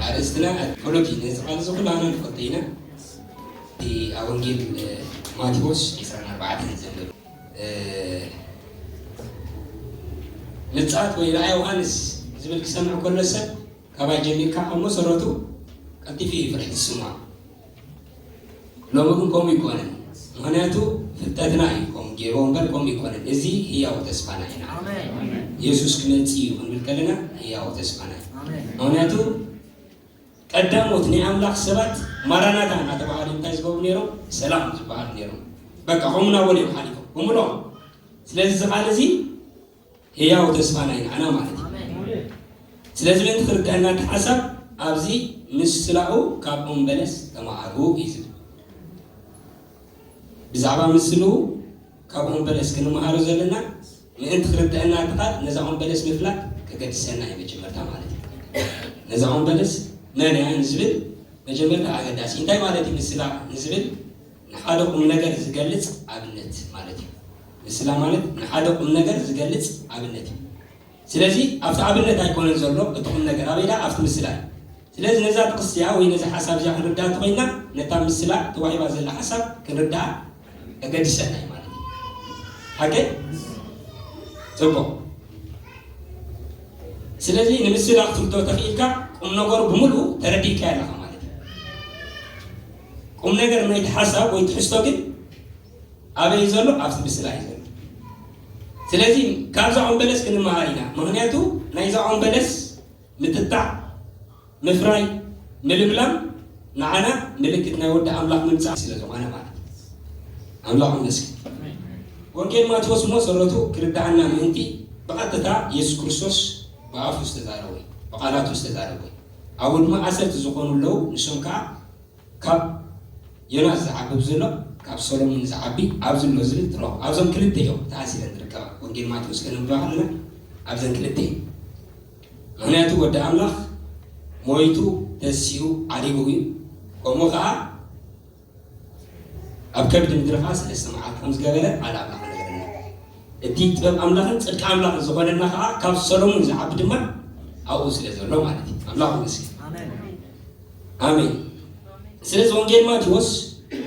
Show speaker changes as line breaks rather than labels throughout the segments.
ኣርእስትና ጸሎት እዩ ነዚ ቃል እዚ ኩላና ንፈልጦ ኢና እቲ ኣብ ወንጌል ማቴዎስ 24 ዘሎ ምጽኣት ወይ ራእይ ዮሃንስ ዝብል ክሰምዕ ከሎ ሰብ ካባይ ጀሚርካ ካብ መሰረቱ ቀልጢፉ እዩ ፍርሒ ዝስምዖ ሎሚ ግን ከምኡ ኣይኮነን ምክንያቱ ፍልጠትና እዩ ከምኡ ገይሮ እምበር ከምኡ ኣይኮነን እዚ ህያው ተስፋና ኢና የሱስ ክመፅ እዩ ክንብል ከለና ህያው ተስፋና እዩ ምክንያቱ ቀዳሞት ናይ ኣምላኽ ሰባት ማራናታ እናተባሃሉ እንታይ ዝገብሩ ነይሮም ሰላም ዝበሃሉ ነይሮም በቃ ከምኡ ናበሉ እዮም ሓሊፎም ብምሎም ስለዚ እዚ ቃል እዚ ህያው ተስፋ ናይ ንዓና ማለት እዩ። ስለዚ ምእንቲ ክርደኣና እቲ ሓሳብ ኣብዚ ምስ ስላኡ ካብ ኦም በለስ ተማሃሩ እዩ ዝብል። ብዛዕባ ምስ ስልኡ ካብ ኦም በለስ ክንመሃሮ ዘለና ምእንቲ ክርደኣና እቲ ቃል ነዛ ኦም በለስ ምፍላጥ ከገድሰና እዩ መጀመርታ ማለት እዩ። ነዛ ኦም በለስ መን እያ ንዝብል መጀመርታ ኣገዳሲ እንታይ ማለት እዩ ምስ ስላ ንዝብል ንሓደ ቁምነገር ዝገልጽ ኣብነት ማለት እዩ። ምስላ ማለት ንሓደ ቁምነገር ዝገልጽ ኣብነት እዩ። ስለዚ ኣብቲ ኣብነት ኣይኮነን ዘሎ እቲ ቁምነገር ኣበይ ድኣ ኣብቲ ምስላ እዩ። ስለዚ ነዛ ጥቕሲ እዚኣ ወይ ነዚ ሓሳብ እዚኣ ክንርድኣ እንተኾይንና ነታ ምስላ ተዋሂባ ዘላ ሓሳብ ክንርድኣ ከገድሰና እዩ ማለት እዩ። ሓቂ ጽቡቕ ስለዚ ንምስላ ክትርድኦ ተኽኢልካ ቁምነገሩ ብምልኡ ተረዲእካዮ ኣለኻ ማለት እዩ። ቁም ነገር ናይቲ ሓሳብ ወይ ትሕዝቶ ግን ኣበይ እዩ ዘሎ ኣብዚ ምስላ እዩ ዘሎ ስለዚ ካብዛ ኦም በለስ ክንመሃር ኢና ምክንያቱ ናይዛ ኦም በለስ ምትታዕ ምፍራይ ምልምላም ንዓና ምልክት ናይ ወዲ ኣምላኽ ምምፃእ ስለ ዝኾነ ማለት ኣምላኽ ይመስገን ወንጌል ማቴዎስ እሞ ሰረቱ ክርዳኣና ምእንቲ ብቐጥታ የሱስ ክርስቶስ ብኣፉ ዝተዛረበ ብቃላቱ ዝተዛረበ ኣወድማ ዓሰርተ ዝኾኑ ኣለዉ ንሶም ከኣ ካብ ዮናስ ዝዓቢ ብዝሎ ካብ ሰሎሙን ዝዓቢ ኣብዚ ኣሎ ዝብል ትረኽቦ ኣብዞም ክልተ እዮም ተኣሲረን ዝርከባ ወንጌል ማቴዎስ ከነንብባ ከለና ኣብዘን ክልተ እዩ ምክንያቱ ወዲ ኣምላኽ ሞይቱ ተሲኡ ዓሪጉ እዩ ከምኡ ከኣ ኣብ ከብዲ ምድሪ ኸዓ ሰለስተ መዓልቲ ከም ዝገበረ ቃል ኣምላኽ ነገረና። እቲ ጥበብ ኣምላኽን ጽድቂ ኣምላኽን ዝኾነና ኸዓ ካብ ሰሎሙን ዝዓቢ ድማ ኣብኡ ስለ ዘሎ ማለት እዩ። ኣምላኽ ይመስገን። ኣሜን። ስለዚ ወንጌል ማቴዎስ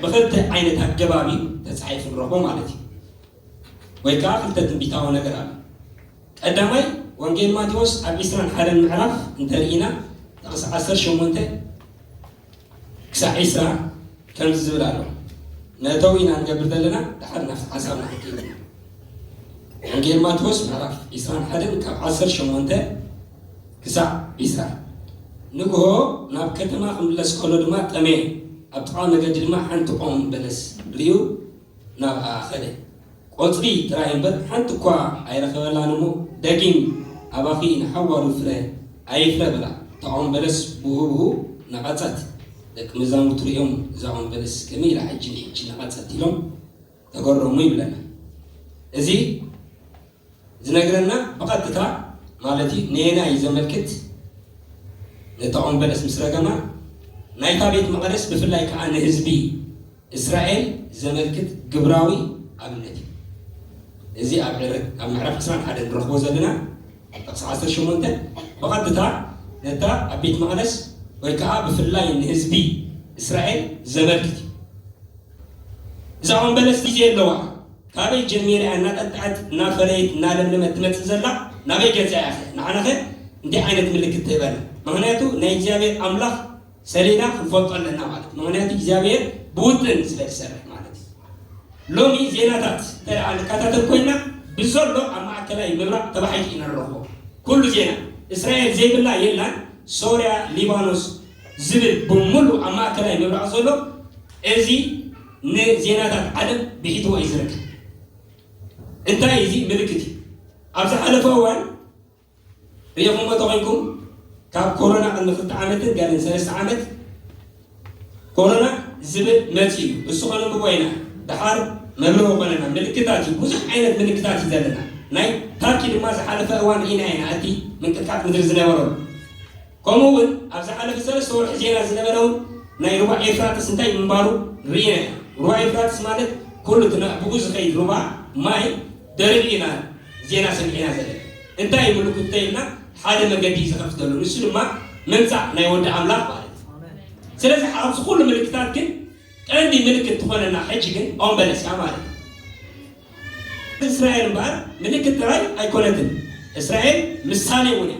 ብክልተ ዓይነት ኣገባብ እዩ ተጻሒፉ ንረኽቦ ማለት እዩ። ወይ ከዓ ክልተ ትንቢታዊ ነገር ኣሎ። ቀዳማይ ወንጌል ማቴዎስ ኣብ 21 ምዕራፍ እንተርኢና ጥቕስ 18 ክሳዕ ዕስራ ከምዚ ዝብል ኣሎ መእተዊ ኢና ንገብር ዘለና ድሓር ናብቲ ሓሳብና ክንከይድ ኢና ወንጌል ማቴዎስ ምዕራፍ ዕስራን ሓደን ካብ ዓሰርተ ሸሞንተ ክሳዕ ዕስራ ንግሆ ናብ ከተማ ክምለስ ከሎ ድማ ጠመየ ኣብ ጥቓ መገዲ ድማ ሓንቲ ኦም በለስ ርዩ ናብኣ ኸደ ቆጽሊ ጥራይ እምበር ሓንቲ እኳ ኣይረኸበላን እሞ ደጊም ኣባኺ ንሓዋሩ ፍረ ኣይፍረ በላ። እታ ኦም በለስ ብኡብኡ ነቐጸት። ደቂ መዛሙርቱ ርእዮም እዛ ኦም በለስ ከመይ ኢላ ሕጂ ንሕጂ ነቐጸት ኢሎም ተገረሙ ይብለና። እዚ ዝነግረና ብቐጥታ ማለት እዩ ነየናይ እዩ ዘመልክት? ነታ ኦም በለስ ምስ ረገማ ናይታ ቤት መቐደስ ብፍላይ ከኣ ንህዝቢ እስራኤል ዘመልክት ግብራዊ ኣብነት እዩ። እዚ ኣብ ዕረ ኣብ ምዕራፍ ዕስራን ሓደን ንረኽቦ ዘለና ጥቕሲ ዓሰርተ ሸሞንተ ብቐጥታ ነታ ኣብ ቤት መቕደስ ወይ ከዓ ብፍላይ ንህዝቢ እስራኤል ዘመልክት እዩ። እዛ ኦም በለስ ግዜ ኣለዋ ካበይ ጀሚረ እያ እናጠጥዐት እናፈረየት እናለምለመት ትመፅእ ዘላ ናበይ ገፃ እያ ንዓናኸ እንታይ ዓይነት ምልክት ትህበና? ምክንያቱ ናይ እግዚኣብሔር ኣምላኽ ሰሌዳ ክንፈልጦ ኣለና ማለት እዩ። ምክንያቱ እግዚኣብሔር ብውጥን ስለ ዝሰርሕ ማለት እዩ። ሎሚ ዜናታት እንተ ንከታተል ኮይና ብዘሎ ኣብ ማእከላይ ምብራቅ ተባሒጡ ኢና ንረኽቦ ኩሉ ዜና እስራኤል ዘይብላ የላን ሶርያ ሊባኖስ ዝብል ብምሉእ ኣብ ማእከላይ ምብራቅ ዘሎ እዚ ንዜናታት ዓለም ብሒትዎ እዩ ዝርከብ እንታይ እዚ ምልክት እዩ ኣብ ዝሓለፈ እዋን እየኹም'ዶ ተኺልኩም? ካብ ኮሮና ቅድሚ ክልተ ዓመትን ገለን ሰለስተ ዓመት ኮሮና ዝብል መጺኡ እዩ። እሱ ከነንብቦ ኢና ደሓር መብርሂ ኮነና። ምልክታት እዩ፣ ብዙሕ ዓይነት ምልክታት እዩ ዘለና። ናይ ታርኪ ድማ ዝሓለፈ እዋን ርኢናዮ ኢና፣ እቲ ምንቅጥቃጥ ምድሪ ዝነበረሉ። ከምኡ እውን ኣብ ዝሓለፈ ሰለስተ ወርሒ ዜና ዝነበረውን ናይ ሩባ ኤፍራጥስ እንታይ ምንባሩ ርኢና ኢና። ሩባ ኤፍራጥስ ማለት ኩሉ እቲ ናብኡ ዝኸይድ ሩባ ማይ ደሪቑ ኢና ዜና ሰሚዕና ዘለና። እንታይ እዩ ምልኩት እንተይልና ሓደ መገዲ እዩ ዝኸፍተሉ ንሱ ድማ ምምጻእ ናይ ወዲ ኣምላኽ ማለት እዩ። ስለዚ ኣብዚ ኩሉ ምልክታት ግን ቀንዲ ምልክት ትኾነና ሕጂ ግን ኦም በለስ እያ ማለት እዩ። እስራኤል እምበኣር ምልክት ጥራይ ኣይኮነትን፣ እስራኤል ምሳሌ እውን እያ።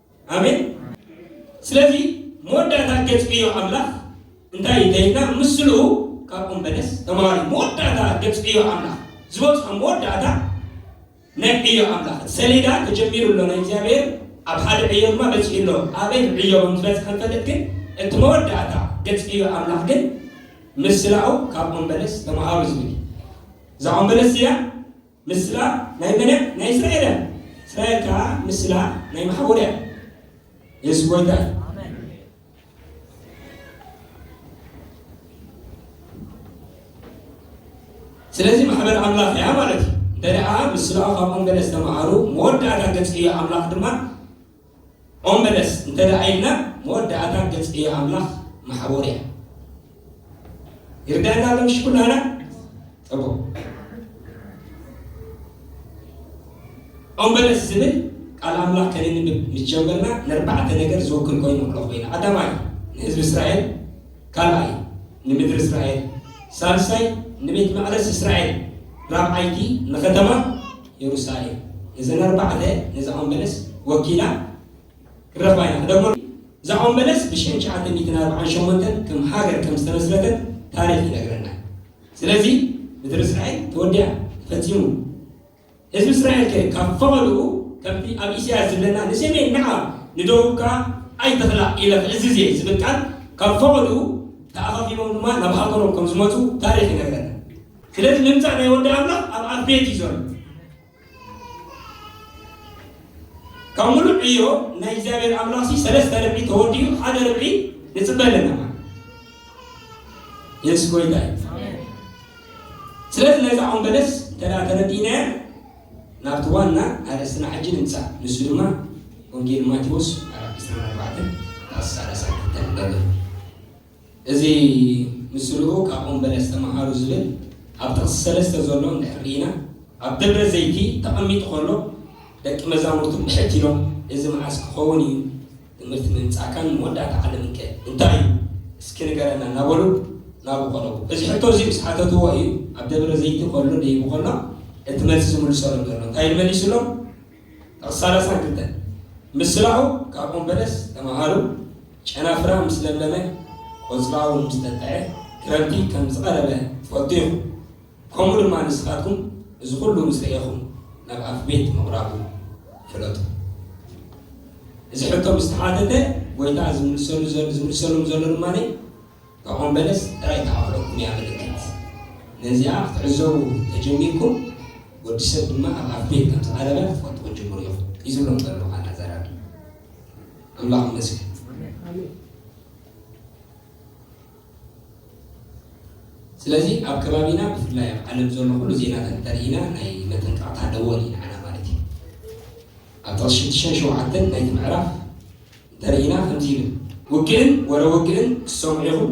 ኣሜን ስለዚ መወዳእታ ገጽዕዮ ኣምላኽ እንታይ እዩ ተይልና ምስሉ ካብ ኦም በለስ ተማሃሩ መወዳእታ ገጽዕዮ ኣምላኽ ዝበጽሖ መወዳእታ ናይ ዕዮ ኣምላኽ እቲ ሰሌዳ ተጀሚሩ ኣሎ ናይ እግዚኣብሔር ኣብ ሓደ ዕዮ ድማ በፂሑ ኣሎ ኣበይ ዕዮ ከም ዝበፅሐ ንፈልጥ ግን እቲ መወዳእታ ገፅ ዕዮ ኣምላኽ ግን ምስላኡ ካብ ኦም በለስ ተምሃሩ ዝብል እዛ ኦም በለስ እዚኣ ምስላ ናይ መን እያ ናይ እስራኤል እያ እስራኤል ከኣ ምስላ ናይ መሓውር እያ የሱስ ጎይታ እዩ። ስለዚ ማሕበር ኣምላኽ እያ ማለት እዩ እንተ ምስላ ካብኦም ገለ ዝተምሃሩ መወዳእታ ገጽ እዩ ኣምላኽ ድማ ኦም በለስ እንተደኣ ኢልና መወዳእታ ገጽ ዕዮ ኣምላኽ ማሕቡር እያ። ይርደኣና ኣሎ ምሽ ኩላህና ጽቡቅ ኦም በለስ ዝብል ቃል ኣምላኽ ከነንብብ ምስ ጀመርና ነርባዕተ ነገር ዝውክል ኮይኑ ንቕሎ ኮይና ቀዳማይ ንህዝቢ እስራኤል ካልኣይ ንምድሪ እስራኤል ሳልሳይ ንቤት መቅደስ እስራኤል ራብዓይቲ ንከተማ የሩሳሌም ነዘን ኣርባዕተ ነዛ ኦም በለስ ወኪላ ክንረኽባ ኢና ክደግሞ እዛ ኦም በለስ ብሽሕን ትሽዓተ ሚእትን ኣርብዓን ሸሞንተን ከም ሃገር ከም ዝተመስረተት ታሪኽ ይነግረና ስለዚ ምድሪ እስራኤል ተወዲያ ተፈጺሙ ህዝቢ እስራኤል ከ ካብ ፈቐድኡ ከምቲ ኣብ ኢሳያስ ዝብለና ንሰሜን ንዓ ንደቡብ ከዓ ኣይትኽላ ኢለ ክእዝዝ እየ ዝብል ቃል ካብ ፈቐድኡ ተኣኻኺቦም ድማ ናብ ሃገሮም ከም ዝመፁ ታሪኽ ይነግረና ስለዚ ምምጻእ ናይ ወዲ ኣምላኽ ኣብ ኣብ ቤት እዩ ዘሎ ካብ ሙሉእ ዕዮ ናይ እግዚኣብሔር ኣምላኽ ሲ ሰለስተ ርብዒ ተወዲኡ ሓደ ርብዒ ንፅበ ኣለና የሱስ ጎይታ እዩ ስለዚ ነዛ ኦም በለስ ተዳ ተረዲእናያ ናብቲ ዋና ኣርእስትና ሕጂ ንምፃእ ንሱ ድማ ወንጌል ማቴዎስ ምዕራፍ 24 ዳስ 32 ንበብ እዚ ምስልኡ ካብ ኦም በለስ ተመሃሩ ዝብል ኣብ ጥቕሲ ሰለስተ ዘሎ እንድሕር ርኢና፣ ኣብ ደብረ ዘይቲ ተቐሚጡ ከሎ ደቂ መዛሙርቱ ብሕት ኢሎም እዚ መዓስ ክኸውን እዩ ትምህርቲ ምምጻእካን መወዳእታ ዓለምንከ እንታይ እዩ እስኪ ንገረና እናበሉ ናብኡ ቀረቡ። እዚ ሕቶ እዚ ምስ ሓተትዎ እዩ ኣብ ደብረ ዘይቲ ከሎ ደይቡ ከሎ እቲ መልሲ ዝምልሰሎም ዘሎ። እንታይ ኢሉ መሊሱሎም? ጥቕሲ ሰላሳን ክልተን ምስላኡ ካብ ኦም በለስ ተመሃሩ፣ ጨናፍራ ምስ ለምለመ፣ ቆጽላ ውን ምስ ተክዐ፣ ክረምቲ ከም ዝቐረበ ትፈልጡ ኢኹም። ከምኡ ድማ ንስኻትኩም እዚ ኩሉ ምስ ረኤኹም ናብ ኣፍቤት ምቕራቡ ፍለጡ። እዚ ሕቶ ምስ ተሓተተ ጎይታ ዝምልሰሉም ዘሎ ድማ እታ ኦም በለስ ጥራይ ተኣኽለኩም እያ ምልክት። ነዚኣ ክትዕዘቡ ተጀሚርኩም ወዲ ሰብ ድማ ኣብ ኣፍቤት ከም ዝቐረበ ክትፈልጡ ክትጅምሩ ኢኹም እዩ ዝብሎም ዘሎ ኣናዛራቢ። ኣምላኽ ይመስገን። ስለዚ ኣብ ከባቢና ብፍላይ ኣብ ዓለም ዘሎ ኩሉ ዜናታት እንተርኢና ናይ መጠንቀቕታ ደወል ኢና ዓና ማለት እዩ ኣብ ጥቕሲ ሽዱሽተን ሸውዓተን ናይቲ ምዕራፍ እንተርኢና ከምዚ ይብል ውግእን ወረ ውግእን ክሰምዑ ኢኹም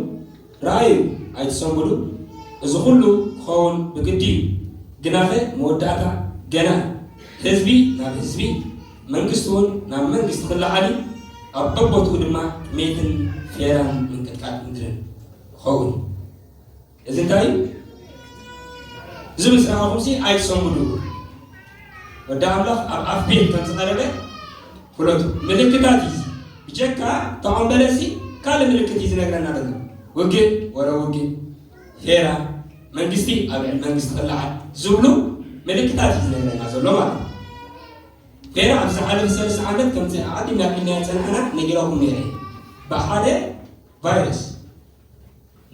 ረኣዩ ኣይትሰንብዱ እዚ ኩሉ ክኸውን ብግዲ እዩ ግናኸ መወዳእታ ገና እዩ ህዝቢ ናብ ህዝቢ መንግስቲ ውን ናብ መንግስቲ ክለዓል እዩ ኣብ በቦትኡ ድማ ጥሜትን ፌራን ምንቅጥቃጥ ምድርን ክኸውን እዩ እዚ እንታይ እዩ እዚ ምስ ረኣኹምሲ ኣይትሰንብዱ ወዲ ኣምላኽ ኣብ ኣፍ ቤት ከም ዝቐረበ ፍለጡ። ምልክታት እዩ ብጀካ እቶም በለሲ ካልእ ምልክት እዩ ዝነግረና ዘሎ። ውግእ ወረ ውግእ፣ ፌራ፣ መንግስቲ ኣብ ልዕሊ መንግስቲ ክለዓል ዝብሉ ምልክታት እዩ ዝነግረና ዘሎ ማለት እዩ። ፌራ ኣብ ዝሓለፈ ሰለስተ ዓመት ከምዚ ዓዲ ናብ ኢልና ፀናሕና ነጊረኩም ነይረ ብሓደ ቫይረስ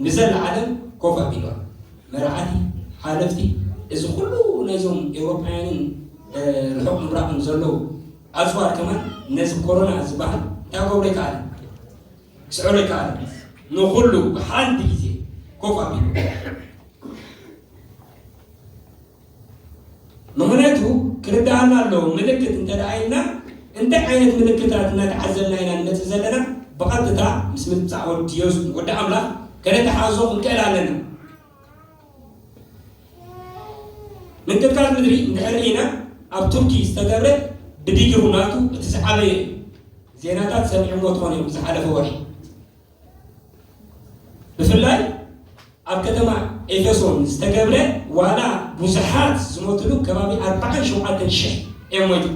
ንዘለዓለም ኮፍ ኣቢሏ። መራዕቲ፣ ሓለፍቲ፣ እዚ ኩሉ ናይዞም ኤውሮጳውያንን ርሑቕ ምብራቕን ዘለዉ ኣጽዋር ከማን ነዚ ኮሮና ዝበሃል እንታይ ክገብሮ ኣይከኣለን፣ ክስዕሮ ኣይከኣለን። ንኹሉ ብሓንቲ ግዜ ኮፍ ኣቢሉ። ምኽንያቱ ክርደኣና ኣለዎ ምልክት እንተ ኢልና እንታይ ዓይነት ምልክታት እናተዓዘብና ኢና ንመጽእ ዘለና ብቐጥታ ምስ ምምጻእ ወዲ ዮስ ወዲ ኣምላኽ ከነተሓዞ ክንክእል ኣለና ምንቅጥቃጥ ምድሪ እንድሕር ርኢና ኣብ ቱርኪ ዝተገብረ ብዲግሩ ናቱ እቲ ዝዓበየ እዩ ዜናታት ሰሚዕሞ ትኾን እዮም ዝሓለፈ ወርሒ ብፍላይ ኣብ ከተማ ኤፌሶን ዝተገብረ ዋላ ብዙሓት ዝሞትሉ ከባቢ ኣርባዓን ሸውዓተን ሽሕ እዮም ሞይቶም።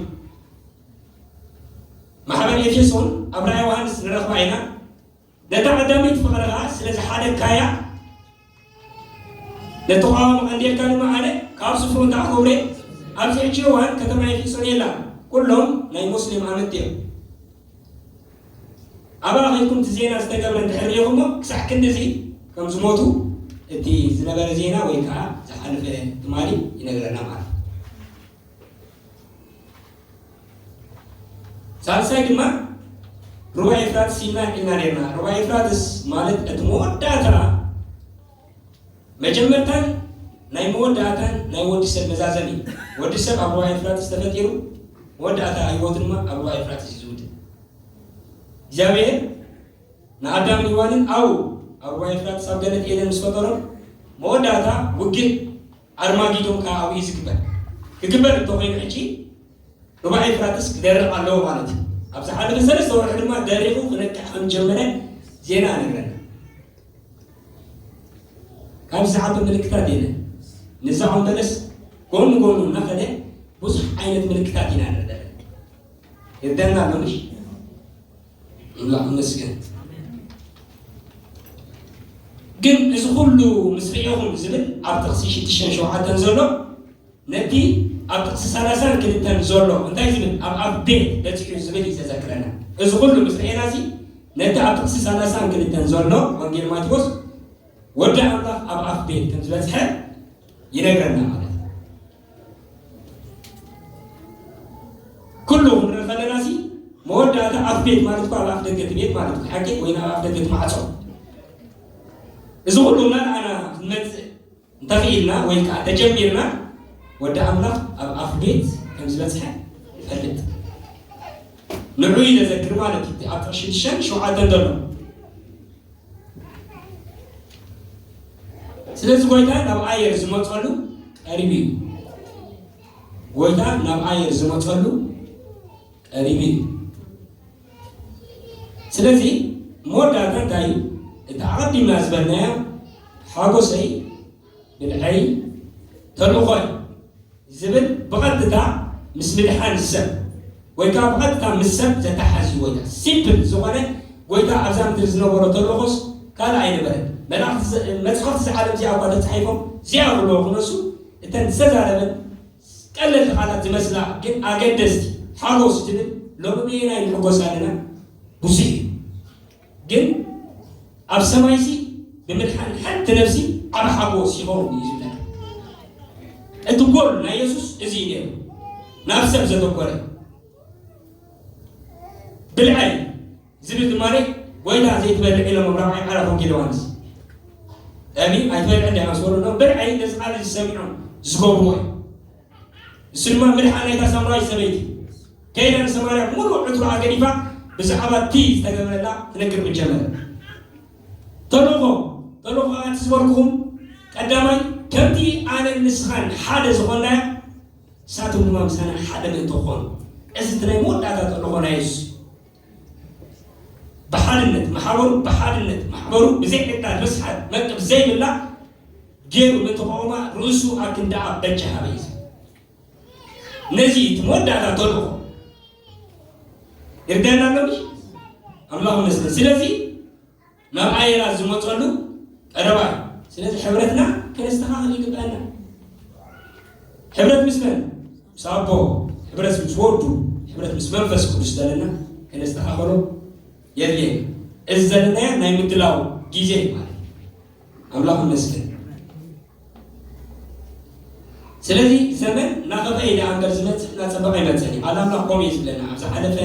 ማሕበር ኤፌሶን ኣብ ራእይ ዮሃንስ ንረኽባ ኢና ነታ ቀዳመይቲ ፍቕሪ ኸኣ ስለ ዝሓደግካያ ለተቃዋም ኣንዴርካ ድማ ኣነ ካብ ስፍሩ እንተ ኣኸብሬ ኣብዚ ሕጂ እዋን ከተማ ኤፊሶን የላን ኩሎም ናይ ሞስሊም ኣመንቲ እዮም ኣብኣ ከይኩም እቲ ዜና ዝተገብረ እንድሕር ሪኢኹሞ ክሳዕ ክንዲዚ ከም ዝሞቱ እቲ ዝነበረ ዜና ወይ ከዓ ዝሓለፈ ትማሊ ይነግረና ማለት እዩ ሳልሳይ ድማ ሩባ ኤፍራጥስ ሂብና ዒና ነርና ሩባ ኤፍራጥስ ማለት እቲ መወዳእታ መጀመርታን ናይ መወዳእታን ናይ ወዲ ሰብ መዛዘም እዩ ወዲ ሰብ ኣብ ሩባ ኤፍራጥስ ተፈጢሩ መወዳእታ ህይወቱ ድማ ኣብ ሩባ ኤፍራጥስ እዩ ዝውድእ እግዚኣብሔር ንኣዳምን ሔዋንን ኣው ኣብ ሩባ ኤፍራጥስ ኣብ ገነት ኤደን ምስ ፈጠሮም መወዳእታ ውግእ ኣርማጊዶን ከኣ ኣብኡ እዩ ዝግበር። ክግበር እንተ ዀይኑ ሕጂ ሩባ ኤፍራጥስ ክደርቕ ኣለዎ ማለት እዩ። ኣብ ዝሓለፈ ሰለስተ ወርሒ ድማ ደሪቑ ክነቅዕ ከም ዝጀመረ ዜና ይነግረና። ካብዚ ዝዓቢ ምልክታት የለን። ንዛ ኦም በለስ ጎኑ ጎኑ እናኸደ ብዙሕ ዓይነት ምልክታት ኢና ንርኢ ዘለና። ይርደኣና ኣሎ ምሽ ኣምላኽ ይመስገን። ግን እዚ ኩሉ ምስ ርኢኹም ዝብል ኣብ ጥቕሲ ሽዱሽተን ሸውዓተን ዘሎ ነቲ ኣብ ጥቕሲ ሰላሳን ክልተን ዘሎ እንታይ ዝብል ኣብ ኣብ ቤት በፂሑ ዝብል እዩ ዘዘክረና። እዚ ኩሉ ምስ ርኤና እዚ ነቲ ኣብ ጥቕሲ ሰላሳን ክልተን ዘሎ ወንጌል ማቴዎስ ወዲ ኣምላኽ ኣብ ኣፍ ቤት ከም ዝበፅሐ ይነግረና ማለት እዩ። ኩሉ ክንርኢ ከለና ሲ መወዳእታ ኣፍ ቤት ማለት እኳ ኣብ ኣፍ ደገ እቲ ቤት ማለት እዩ ሓቂ ወይ ናብ ኣፍ ደገ እቲ ማዕፆ እዚ ኩሉ እናረኣና ክንመፅእ እንተኽኢልና ወይ ከዓ ተጀሚርና ወዲ ኣምላኽ ኣብ ኣፍ ቤት ከም ዝበፅሐ ይፈልጥ ንዑ ይነዘክር ማለት እዩ ኣብ ጥቕሽን ሸን ሸውዓተን ዘሎ ስለዚ ጎይታ ናብ ኣየር ዝመፀሉ ቀሪብ እዩ ጎይታ ናብ ኣየር ዝመፀሉ ቀሪብ እዩ ስለዚ መወዳእታ እንታይ እዩ እቲ ኣቐዲምና ዝበልናዮ ሓጎሰይ ብልዐይ ተልእኾይ ዝብል ብቐጥታ ምስ ምድሓን ሰብ ወይ ከኣ ብቐጥታ ምስ ሰብ ዘተሓሕዝ ጎይታ ሲምፕል ዝኾነ ጎይታ ኣብዛ ምድሪ ዝነበሮ ተልእኾስ ካልእ ኣይነበረን። መላእኽቲ መጻሕፍቲ እዛ ዓለም እዚኣ እኳ ተጻሒፎም ዚኣ ክብልዎ ክነሱ እተን ዝተዛረበን ቀለልቲ ቃላት ዝመስላ ግን ኣገደስቲ ሓጎስ ትብል ሎሚ በየናይ ንሕጎስ ኣለና ብዙሕ እዩ። ግን ኣብ ሰማይሲ ብምድሓን ሓንቲ ነፍሲ ዓቢ ሓጎስ ይኸውን እዩ ዝብለና። እቲ ጎል ናይ የሱስ እዚ እዩ ነይሩ፣ ናብ ሰብ ዘተኮረ። ብልዐይ ዝብል ዝማሬ ጎይታ ዘይትበልዕ ኢሎም ኣብ ራብዓይ ምዕራፍ ወንጌል ዮሃንስ እሚ ኣይትበልዕ እንዲ ምስ በልዑ ብልዐይ ነዚ ቃል እዚ ሰሚዖም ዝገብርዎ እዩ። ንሱ ድማ ምድሓን ናይታ ሳምራዊት ሰበይቲ እዩ። ከይዳ ንሰማርያ ምሉእ ዕትሮኣ ገዲፋ ብዛዕባ እቲ ዝተገብረላ ክነግር ጀመረት። ተልእኾ ተልእኾ ከኣ እቲ ዝበልኩኹም ቀዳማይ ከምቲ ኣነን ንስኻን ሓደ ዝኾንናዮ ንሳቶም ድማ ምሳና ሓደ ምእንቲ ክኾኑ እዚ እቲ ናይ መወዳእታ ተልእኾ ናይ የሱስ እዩ። ብሓድነት ማሕበሩ ብሓድነት ማሕበሩ ብዘይዕጣን ምስሓት መቅብ ዘይብላ ገይሩ ንተቃውማ ርእሱ ኣብ ክንዲ ኣብ በጃ ሃበይዝ ነዚ እቲ መወዳእታ ተልእኾ ይርዳና ኣሎ ኣምላኽ መስገን ስለዚ ናብ ኣየራት ዝመፀሉ ቀረባ እዩ። ስለዚ ሕብረትና ከነስተኻኽል ይግብአና። ሕብረት ምስ መን? ምስ ኣቦ፣ ሕብረት ምስ ወዱ፣ ሕብረት ምስ መንፈስ ቅዱስ ዘለና ከነስተኻኽሎ የድልየና። እዚ ዘለናዮ ናይ ምድላው ጊዜ ማለት ኣምላኽ ይመስገን። ስለዚ ዘመን ናኸፍኣ እዩ ደኣ እምበር ዝመጽእ እናጸበቐ ኣይመጽእን እዩ። ቃል ኣምላኽ ከምኡ እዩ ዝብለና። ኣብ ዝሓለፈ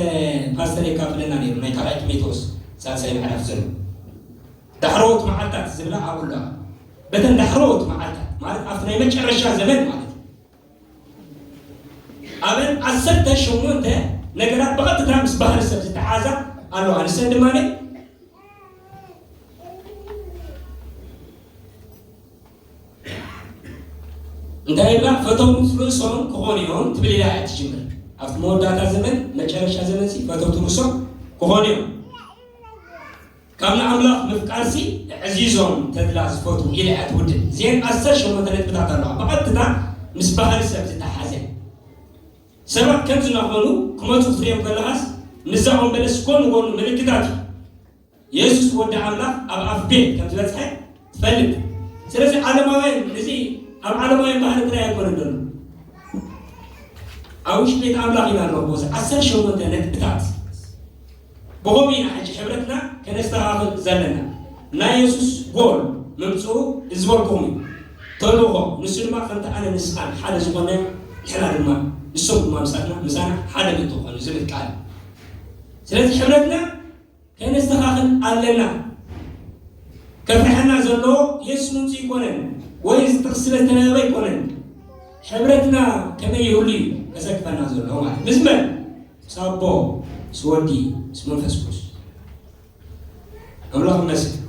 ፓስተር የካፍለና ነይሩ ናይ ካልኣይ ጢሞቴዎስ ሳልሳይ ምዕራፍ ዘሎ ዳሕረዎት መዓልታት ዝብላ ኣብኡ ኣለዋ። በተን ዳሕረዎት መዓልታት ማለት ኣብቲ ናይ መጨረሻ ዘመን ማለት እዩ። ኣበን ዓሰርተ ሸሞንተ ነገራት ብቐጥታ ምስ ባህሪ ሰብ ዝተሓሓዛ ኣለዋ። ንሰን ድማ እንታይ ይብላ? ፈተውት ርእሶም ክኾኑ እዮም ትብል ኢላ እያ ትጅምር። ኣብቲ መወዳእታ ዘመን መጨረሻ ዘመን ሲ ፈተውት ርእሶም ክኾኑ እዮም። ካብ ንኣምላኽ ምፍቃርሲ ኣዕዚዞም ተድላ ዝፈትዉ ኢለ እያ ትውድእ። እዚኤን ዓሰርተ ሸሞንተ ነጥብታት ኣለዋ፣ ብቐጥታ ምስ ባህሪ ሰብ ዝተሓሓዘ። ሰባት ከምዚ እናኾኑ ክመጹ ክትርእዮም ከለኻስ ምስዛ ኦም በለስ ጎኒ ጎኑ ምልክታት እዩ። የሱስ ወዲ ኣምላኽ ኣብ ኣፍ ቤት ከም ዝበጽሐ ትፈልጥ ስለዚ ዓለማውያን እዚ ኣብ ዓለማውያን ባህሪ ጥራይ ኣይኮነን ዘሎ ኣብ ውሽጢ ቤት ኣምላኽ ኢና ንረክቦ እዚ ዓሰርተ ሸሞንተ ነጥብታት ብኸምኡ ኢና ሕጂ ሕብረትና ከነስተኻኽል ዘለና ናይ የሱስ ጎል ምምፅኡ ዝበልኩም እዩ ተልእኾ ንሱ ድማ ከምቲ ኣነ ንስኻን ሓደ ዝኾነ ንሕና ድማ ንሶም ድማ ምሳና ምሳና ሓደ ምትኾኑ ዝብል ቃል ስለዚ ሕብረትና ከነስተኻኽል ኣለና። ከፍርሐና ዘሎ የሱስ ምምጽኡ ኣይኮነን ወይ እዚ ጥቕሲ ስለ ዝተነበበ ኣይኮነን። ሕብረትና ከመይ ይህሉ እዩ ከሰክፈና ዘሎ ማለት ምስ መን? ምስ ኣቦ፣ ምስ ወዲ፣ ምስ መንፈስ ቅዱስ። ኣምላኽ ይመስገን።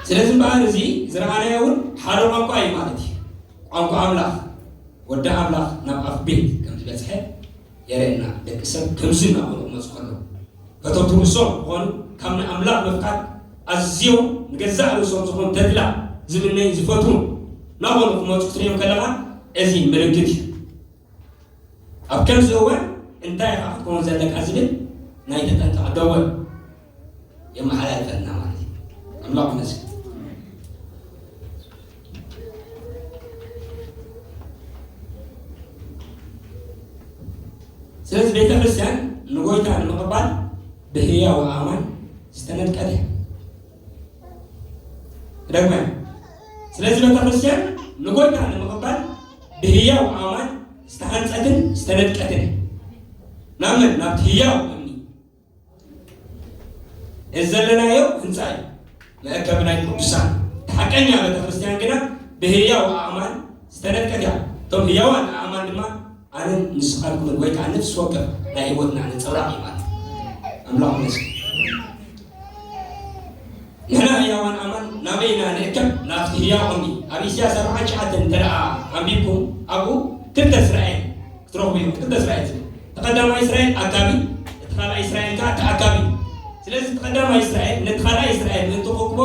ስለዚ እምበኣር እዚ ዝረኣናዮ እውን ሓደ ቋንቋ እዩ ማለት እዩ። ቋንቋ ኣምላኽ ወዲ ኣምላኽ ናብ ኣፍ ቤት ከም ዝበፅሐ የርእየና ደቂ ሰብ ከምዚ እናኾኑ ክመጹ ከለዉ በቶም ትውርሶም ዝኾኑ ካብ ናይ ኣምላኽ ምፍቃድ ኣዝዮም ንገዛእ ርእሶም ዝኾኑ ተድላ ዝምነዩን ዝፈትዉን ናኾኑ ክመጹ ክትርእዮም ከለኻ እዚ ምልክት እዩ ኣብ ከምዚ እዋን እንታይ ኢኻ ክትከውን ዘለካ ዝብል ናይ ተጠንቀቕ ደወል የመሓላልፈልና ማለት እዩ። ኣምላኽ ይመስገን። ስለዚ ቤተ ክርስቲያን ንጎይታ ንምቕባል ብህያው ኣማን ዝተነድቀት እያ። ደግመ ስለዚ ቤተ ክርስቲያን ንጎይታ ንምቕባል ብህያው ኣማን ዝተሃንጸትን ዝተነድቀትን እያ። ናብመን ናብቲ ህያው እዚ ዘለናዮ ህንፃ እዩ መእከቢ ናይ ቅዱሳን እቲ ሓቀኛ ቤተ ክርስቲያን ግና ብህያው ኣእማን ዝተነድቀት እያ እቶም ህያዋን ኣእማን ድማ ኣነን ንስኻልኩምን ወይ ከዓ ነፍሲ ወከፍ ናይ ህይወትና ነፀብራቅ እዩ ማለት ኣምላኽ ይመስገን ንሕና ህያዋን ኣእማን ናበይ ኢና ንእከብ ናብቲ ህያው እምኒ ኣብ ኢሳያስ ኣርብዓን ሸዓተን እንተ ደኣ ኣንቢብኩም ኣብኡ ክልተ እስራኤል ክትረኽቡ ኢኹም ክልተ እስራኤል ዝብል እቲ ቀዳማይ እስራኤል ኣካቢ፣ እቲ ካልኣይ እስራኤል ከኣ ተኣካቢ እዩ። ስለዚ እቲ ቀዳማይ እስራኤል ነቲ ካልኣይ እስራኤል ምእንቲ ክእክቦ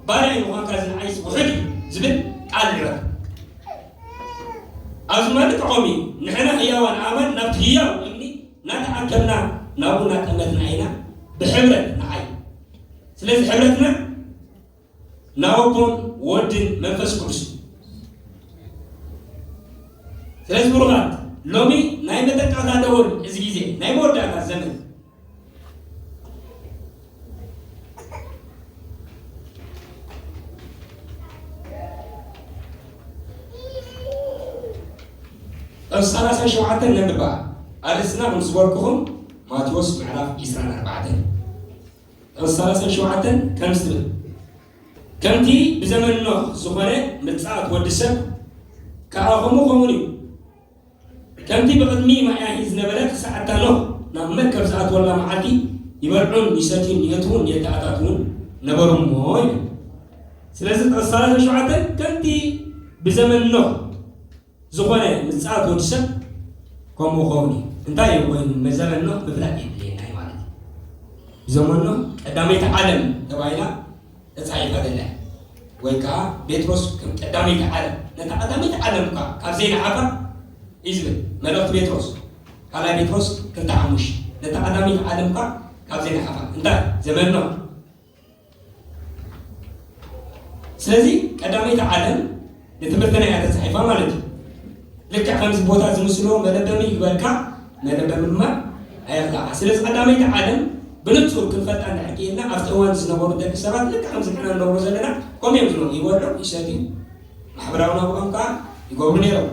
ባርያይ ምዃንካ ዝንዓይስ ውሑድ እዩ ዝብል ቃል ንዕቅ። ኣብዚ ማለት ዖሚ ንሕና ህያዋን ኣእማን ናብቲ ህያው እምኒ እናተኣከብና ናብኡ እናጠመትና ኢና ብሕብረት ንዓይ። ስለዚ ሕብረትና ናወቦን ወድን መንፈስ ቅዱስ እዩ ስለዚ ብሩኻት ሎሚ ናይ መጠቃታ ደወል እዚ ግዜ ናይ መወዳእታ ዘመን እብ ሰላሳ ሸውዓተ ነንባ ኣርእስና ከም ዝበልኩኹም ማቴዎስ ምዕራፍ 24 ቁጽሪ ሰላሳን ሸውዓተን ከምዚ ትብል፣ ከምቲ ብዘመን ኖህ ዝኾነ ምጽኣት ወዲ ሰብ ከኣ ከምኡ ከምኡን እዩ። ከምቲ ብቕድሚ ማያሂ ዝነበረ ክሳዕ እታ ኖህ ናብ መርከብ ዝኣትወላ መዓልቲ ይበልዑን ይሰትዩን የእትዉን የተኣታትዉን ነበሩ እሞ ይብል። ስለዚ ቁጽሪ ሰላሳን ሸውዓተን ከምቲ ብዘመን ኖህ ዝኾነ ምጽኣት ወዲ ሰብ ከምኡ ክኸውን እዩ። እንታይ እዩ ኮይኑ መዘመኖ ምፍላጥ የድልየና እዩ ማለት እዩ። ዘመኖ ቀዳመይቲ ዓለም ተባሂላ ተጻሒፋ ዘላ ወይ ከዓ ጴጥሮስ ከም ቀዳመይቲ ዓለም ነታ ቀዳመይቲ ዓለም እኳ ካብ ዘይንዓፋ እዩ ዝብል መልእኽቲ ጴጥሮስ ካልኣይ ጴጥሮስ ክልተ ሓሙሽ ነታ ቀዳመይቲ ዓለም እኳ ካብ ዘይንዓፋ እንታይ ዘመኖ ስለዚ ቀዳመይቲ ዓለም ንትምህርትና እያ ተፃሒፋ ማለት እዩ ልክዕ ከምዚ ቦታ ዝምስሎ መለበሚ ይግበርካ መለበሚ ድማ ኣየኽላካ ስለዚ ቀዳመይቲ ዓለም ብንፁር ክንፈልጣ እንድሕር ክኢልና ኣብቲ እዋን ዝነበሩ ደቂ ሰባት ልክዕ ከምዚ ንሕና ንነብሮ ዘለና ከምኡ እዮም ዝነበሩ ይበልዑ ይሰትዩ ማሕበራዊ ናብሮኦም ከዓ ይገብሩ ነይሮም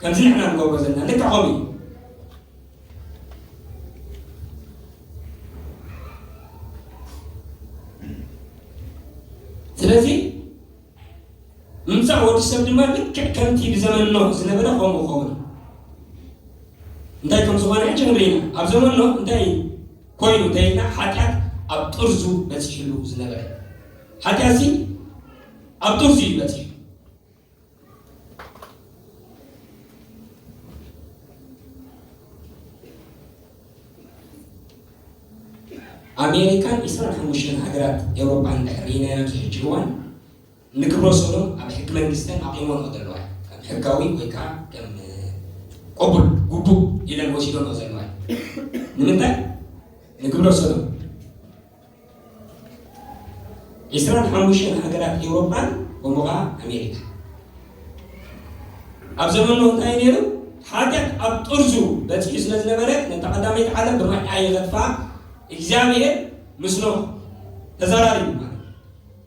ከምዚ ንሕና ንገብሮ ዘለና ልክዕ ከምኡ እዩ ስለዚ ምምፃእ ወዲ ሰብ ድማ ልክዕ ከምቲ ብዘመን ኖህ ዝነበረ ከምኡ ኸውን እንታይ ከም ዝኾነ ሕጂ ንርኢ ኢና ኣብ ዘመን ኖህ እንታይ ኮይኑ እንተይልና ሓጢኣት ኣብ ጥርዙ በፂሕሉ ዝነበረ ሓጢኣት ሲ ኣብ ጥርዙ እዩ በፂሑ ኣሜሪካን ኢስራን ሓሙሽተን ሃገራት ኤውሮጳን ድሕሪ ሪናያን ዝሕጂ እዋን ንግብረ ሰዶም ኣብ ሕጊ መንግስተን ኣቑሞንኦ ዘለዋ ከም ሕጋዊ ወይ ከዓ ከም ቅቡል ግቡእ ኢለን ወሲዶንኦ ዘለዋ ንምንታይ ንግብረ ሰዶም ዕስራን ሓሙሽተን ሃገራት ኤውሮጳን ከምኡ ከኣ ኣሜሪካ ኣብ ዘመኑ እንታይ ነይሩ ሓጢኣት ኣብ ጥርዙ በጺሑ ስለ ዝነበረ ነታ ቀዳመይቲ ዓለም ብማይ ኣየኸትፋ እግዚኣብሔር ምስ ኖህ ተዘራሪቡ ማለት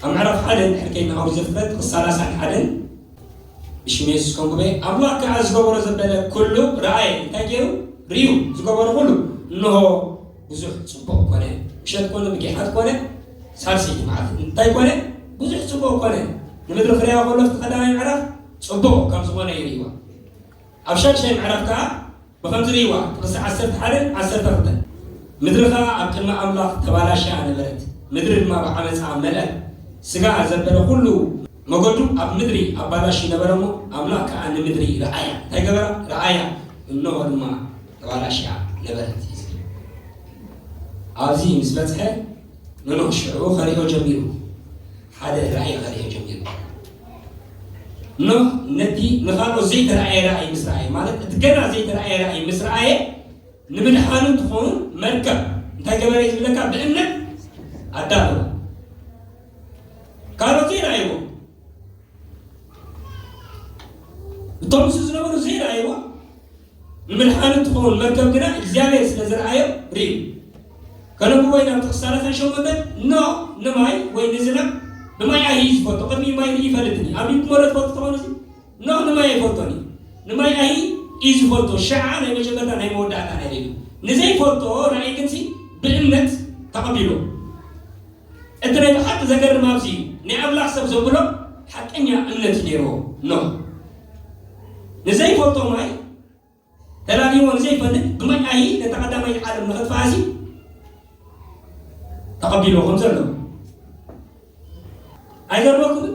ካብ ምዕራፍ ሓደ ድሕሪ ኬድና ኦሪት ዘፍጥረት ክሳብ ሰላሳን ሓደን ብሽም የሱስ ከምኩበ ኣምላኽ ከኣ ዝገበሮ ዘበለ ኩሉ ረኣየ እንታይ ገይሩ ርዩ ዝገበሮ ኩሉ እንሆ ብዙሕ ጽቡቕ ኮነ ምሸት ኮነ ንጌሓት ኮነ ሳልሰይቲ መዓልቲ እንታይ ኮነ ብዙሕ ጽቡቕ ኮነ ንምድሪ ክርያ ከሎ እቲ ቀዳማይ ምዕራፍ ጽቡቕ ከም ዝኾነ ይርእዋ ኣብ ሻድሻይ ምዕራፍ ከኣ ብኸምዚ ርእይዋ፣ ጥቕሲ ዓሰርተ ሓደን ዓሰርተ ክልተን፣ ምድሪ ኸኣ ኣብ ቅድሚ ኣምላኽ ተባላሽያ ነበረት፣ ምድሪ ድማ ብዓመጻ መልኣት፣ ስጋ ዘበለ ዅሉ መገዱ ኣብ ምድሪ ኣባላሽዩ ነበረ እሞ፣ ኣምላኽ ከኣ ንምድሪ ረኣያ፣ እንታይ ገበራ? ረኣያ፣ እንሆ ድማ ተባላሽያ ነበረት እዩ ዝብል። ኣብዚ ምስ በጽሐ፣ ኖኖ ሽዑ ኸርእዮ ጀሚሩ። ሓደ ራእይ ኸርእዮ ጀሚሩ። ኖህ ነቲ ንኻልኦት ዘይተረኣየ ራእይ ምስ ረኣየ ማለት እቲ ገና ዘይተረኣየ ራእይ ምስ ረኣየ ንምድሓኑ ትኸውን መርከብ እንታይ ገበረ እዩ ዝብለካ ብእምነት ኣዳለወ ካልኦት ዘይረኣይዎ እቶም ምስ ዝነበሩ ዘይረኣይዎ ንምድሓኑ እትኸውን መርገም ግና እግዚኣብሔር ስለ ዝረኣዮ ርእዩ ከነብቦ ኢና ብጥቕሲ ሰላሳን ሸሞንተን ኖ ንማይ ወይ ንዝናብ ንማይ ኣይይ ዝፈቶ ቅድሚ ማይ ርኢ ይፈልጥኒ ኣብ ሊብ ሞለ ትፈልጡ ተኾኑ እዚ ኖ ንማይ ኣይፈልጦን እዩ ንማይ ኣይ እዩ ዝፈልጦ ሸዓ ናይ መጀመርታ ናይ መወዳእታ ናይ ርእዩ ንዘይፈልጦ ራእይ ግንሲ ብእምነት ተቐቢሎ እቲ ናይ ብሓቂ ዘገርም ኣብዚ እዩ፣ ናይ ኣምላኽ ሰብ ዘብሎ ሓቀኛ እምነት እዩ ነይርዎ። ኖህ ንዘይፈልጦ ማይ ተላልይዎ ንዘይፈልጥ ብማይ ኣይ ነታ ቀዳማይ ዓለም ንኸጥፍኣ እዚ ተቐቢልዎ ከም ዘሎ ኣይገርመኩምን?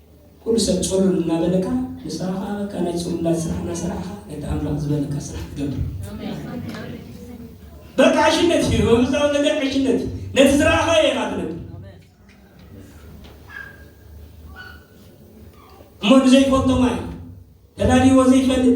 ኩሉ ሰብ ጹሉል እናበለካ ንስኻ ከኣ በቃ ናይ ጹሉላት ስራሕ እናሰራሕኻ ነቲ ኣምላኽ ዝበለካ ስራሕ ትገብር። በቃ ዕሽነት እዩ መንፈሳዊ ነገር ዕሽነት እዩ። ነቲ ዝረኣኻዮ ኢኻ ትነብር እሞ ንዘይፈልጦ ማይ ተዳልይዎ ዘይፈልጥ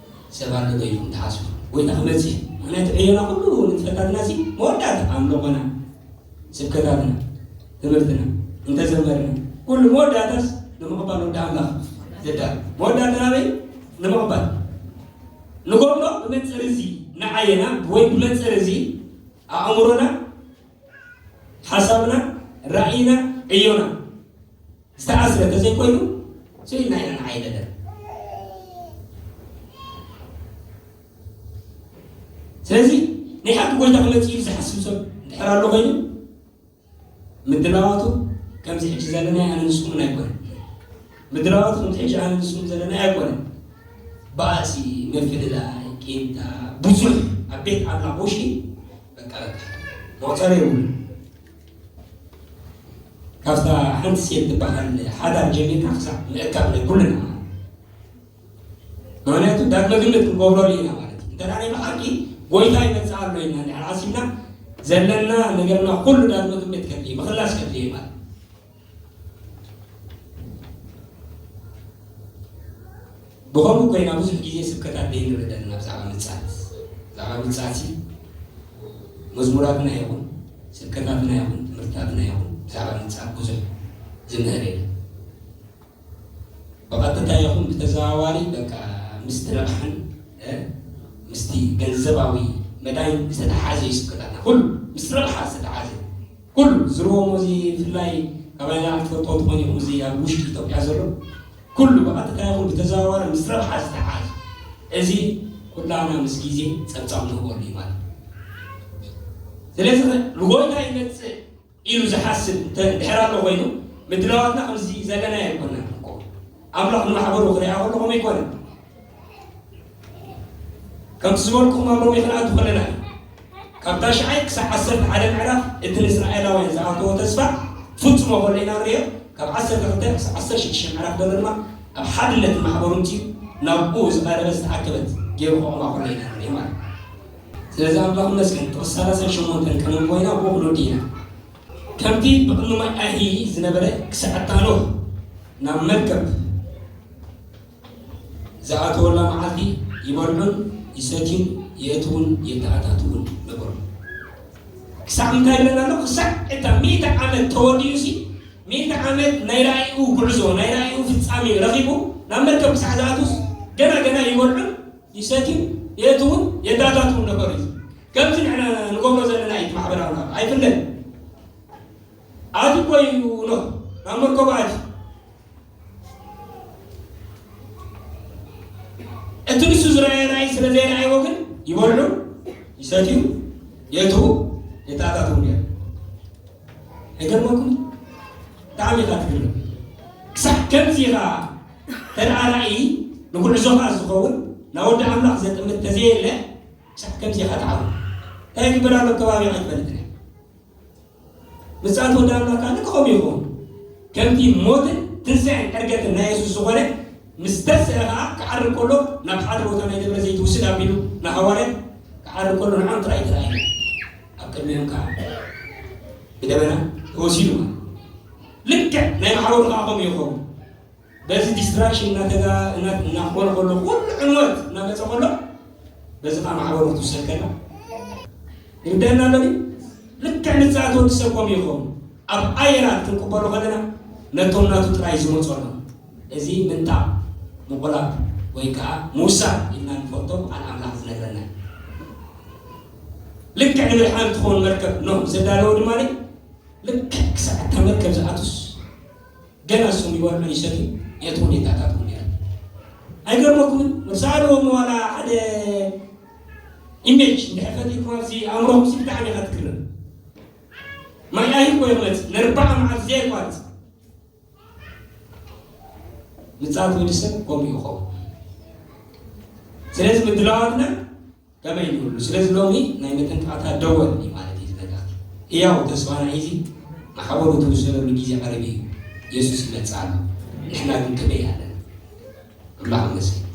ሰብ ኣለዶ ኢልኩም ትሓስቡ? ጎይታ ክመጽእ እዩ ምክንያቱ ዕዮና ኩሉ ንጥፈታትና ሲ መወዳእታ ኣምልኾና ስብከታትና ትምህርትና እንተዘመርና ኩሉ መወዳእታስ ንምቕባል ወዲ ኣምላኽ ዘዳሉ መወዳእታ ናበይ ንምቕባል ንጎሞ ብመንጽር እዚ ንዓየና ወይ ብመንጽር እዚ ኣእምሮና ሓሳብና ራእይና ዕዮና ዝተኣስረ እንተዘይኮይኑ ስኢንና ኢና ንዓይ ነገር ስለዚ ናይ ሓቂ ጎይታ ክመፅእ እዩ ዝሓስብ ሰብ እንድሕር ኣሎ ኮይኑ ምድላዋቱ ከምዚ ሕጂ ዘለና ኣነ ንስኹምን ኣይኮነ ምድላዋቱ ከምዚ ሕጂ ኣነ ንስኹም ዘለና ኣይኮነ ባእሲ ምፍልላይ ቂምታ ብዙሕ ኣብ ቤት ኣምላኽ ውሽጢ በቃ በቃ መቑፀሪ የብሉ ካብታ ሓንቲ ሴት ትበሃል ሓዳር ጀሚርካ ክሳዕ ምእካብ ናይ ኩልና ምክንያቱ ዳግመ ግምት ክንገብረሉ ኢና ማለት እዩ እንተ ናይ ብሓቂ ጎይታ ይመፅእ ኣሎ ኢና ድሕር ዓሲብና ዘለና ነገርና ኩሉ ዳግመ ግምት ከድልየ ምክላስ ከድልየ ማለት ብኸምኡ ኮይና ብዙሕ ግዜ ስብከታት ዘይንርኢ ዘለና ብዛዕባ ምጽኣት ብዛዕባ ምጽኣት መዝሙራትና ይኹን ስብከታትና ይኹን ትምህርትታትና ይኹን ብዛዕባ ምጽኣት ብዙሕ ዝምህር የለን ብቐጥታ ይኹን ብተዘዋዋሪ በቃ ምስቲ ረብሓን ምስቲ ገንዘባዊ መዳይን ዝተተሓሓዘ እዩ ስብከታትና ኩሉ ምስ ረብሓ ዝተተሓዘ እዩ ኩሉ ዝርወሞ እዚ ብፍላይ ካባይና ኣይትፈልጥዎ ትኾኑ ኢኹም እዚ ኣብ ውሽጢ ኢትዮጵያ ዘሎ ኩሉ ብቐጥታ ይኹን ብተዘዋዋሪ ምስ ረብሓ ዝተተሓዘ እዚ ኩላና ምስ ግዜ ፀብፃብ ንህበሉ እዩ ማለት እዩ ስለዚ ልጎይታ ይመፅእ ኢሉ ዝሓስብ እንተ ድሕር ኣሎ ኮይኑ ምድላዋትና ከምዚ ዘለናዮ ኣይኮናን እኮ ኣምላኽ ንማሕበሩ ክሪኣ ከሎ ከምኡ ኣይኮነን ከምቲ ዝበልኩም ኣብ ሮሜ ክንኣቱ ከለና እዩ ካብ ታሽዓይ ክሳብ ዓሰርተ ሓደ ምዕራፍ እቲ ንእስራኤላውያን ዝኣተዎ ተስፋ ፍጹሞ ከሎ ኢና ንሪኦ ካብ ዓሰርተ ክልተ ክሳብ ዓሰርተ ሽዱሽተ ምዕራፍ ዘሎ ድማ ኣብ ሓድነት ማሕበሩ እንትዩ ናብኡ ዝቐረበ ዝተኣከበት ገይሩ ከቑማ ከሎ ኢና ንሪኦ ማለት እዩ ነዛ እምባ እመስገን ጥቕሲ ሰላሳን ሸሞንተን ከም እንኮይና ቦቕሎ ዲና ከምቲ ብቕድሚ ማይ ኣይሂ ዝነበረ ክሳዕታ ኖህ ናብ መርከብ ዝኣተወላ መዓልቲ ይበልዑን ይሰትዩን የእትውን የተኣታትውን ነበሩ ክሳዕ እንታይ ይብለና ኣሎ ክሳዕ እታ ሚእቲ ዓመት ተወዲኡ ሲ ሚእቲ ዓመት ናይ ራእይኡ ጉዕዞ ናይ ራእይኡ ፍፃሜ ረኺቡ ናብ መርከብ ክሳዕ ዝኣትውስ ገና ገና ይበልዑን ይሰትዩን የእትዉን የታታትዉን ነበሩ። እዚ ከምቲ ንሕና ንገብሮ ዘለና እዩ፣ እቲ ማሕበራዊ ናብራ ኣይፍለን። ኣትዩ እኮ እዩ ኖህ ናብ መርከቡ ኣትዩ እቲ ንሱ ዝረኣየ ራእይ ስለ ዘይረኣይዎ ግን ይበልዑ ይሰትዩ የእትዉ የታታትዉ ነይሩ። ኣይገርመኩምን ብጣዕሚ ኢኻ ትግርም ክሳዕ ከምዚ ኢኻ ተደኣ ራእይ ንጉዕዞኻ ዝኸውን ናብ ወዲ ኣምላኽ ዘጥምት ተዘየለ ክሳዕ ከምዚ ኢኻ ትዓብሩ እንታይ ይግበር ኣሎ ከባቢ ኣይትፈልጥን እያ ምጽኣት ወዲ ኣምላኽ ካለ ከምኡ ይኸውን ከምቲ ሞትን ትንሣኤን ዕርገትን ናይ የሱስ ዝኾነ ምስ ተስአ ከዓ ክዓሪ ከሎ ናብ ሓደ ቦታ ናይ ደብረ ዘይት ውስድ ኣቢሉ ንሃዋርያት ክዓሪ ከሎ ንዓም ጥራይ ተራእዩ ኣብ ቅድሚኦም ከዓ ብደበና ተወሲዱ ልክዕ ናይ ማሕበሩ ከዓ ከምኡ ይኸውን በዚ ዲስትራክሽን እናተጋ እናኾነ ከሎ ኩሉ ዕንወት እናመፀ ከሎ በዚ ከዓ ማሕበሩ ክትውሰድ ከላ ይርደና ኣሎ ልክዕ ንፃት ወዲ ሰብ ከምኡ ይኸውን ኣብ ኣየራት ክንቅበሎ ከለና ነቶም ናቱ ጥራይ ዝመፁ ኣሎ እዚ ምንታ ምቑላብ ወይ ከዓ ምውሳድ ኢልና ንፈልጦ ቃል ኣምላኽ ዝነግረና እዩ ልክዕ ንምድሓን እትኸውን መርከብ ኖህ ምስ ኣዳለወ ድማ ልክዕ ክሳዕ እታ መርከብ ዝኣቱስ ገና ንሶም ይበልዑን ይሰትዩ የእትዉ ኔታታት እውን ነይሩ ኣይገርመኩምን መብዛሕትኦም ዋላ ሓደ ኢሜጅ እንድሕር ፈጢርኩም ኣብዚ ኣእምሮኹም ሲ ብጣዕሚ ኢኻ ትግረም ማይ ኣይኮ ይቕመጥ ንርባዓ መዓልቲ ዘየቋርፅ ምፅኣት ወዲ ሰብ ከምኡ ይኸውን ስለዚ ምድላዋትና ከመይ ንብሉ ስለዚ ሎሚ ናይ መጠንቀቕታ ደወል እዩ ማለት እዩ እዚ መልእኽቲ። ህያው ተስፋና ሒዙ መሓውሩ ዝውሰደሉ ግዜ ቀሪቡ እዩ። የሱስ ይመጽእ ኣሎ። ንሕና ግን ከመይ ኣለና? ኣምላኽ ይመስገን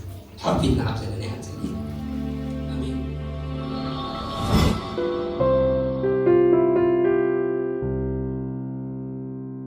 ሓፊትና ኣብ ዘለና ኢና ንጽሊ። ኣሜን።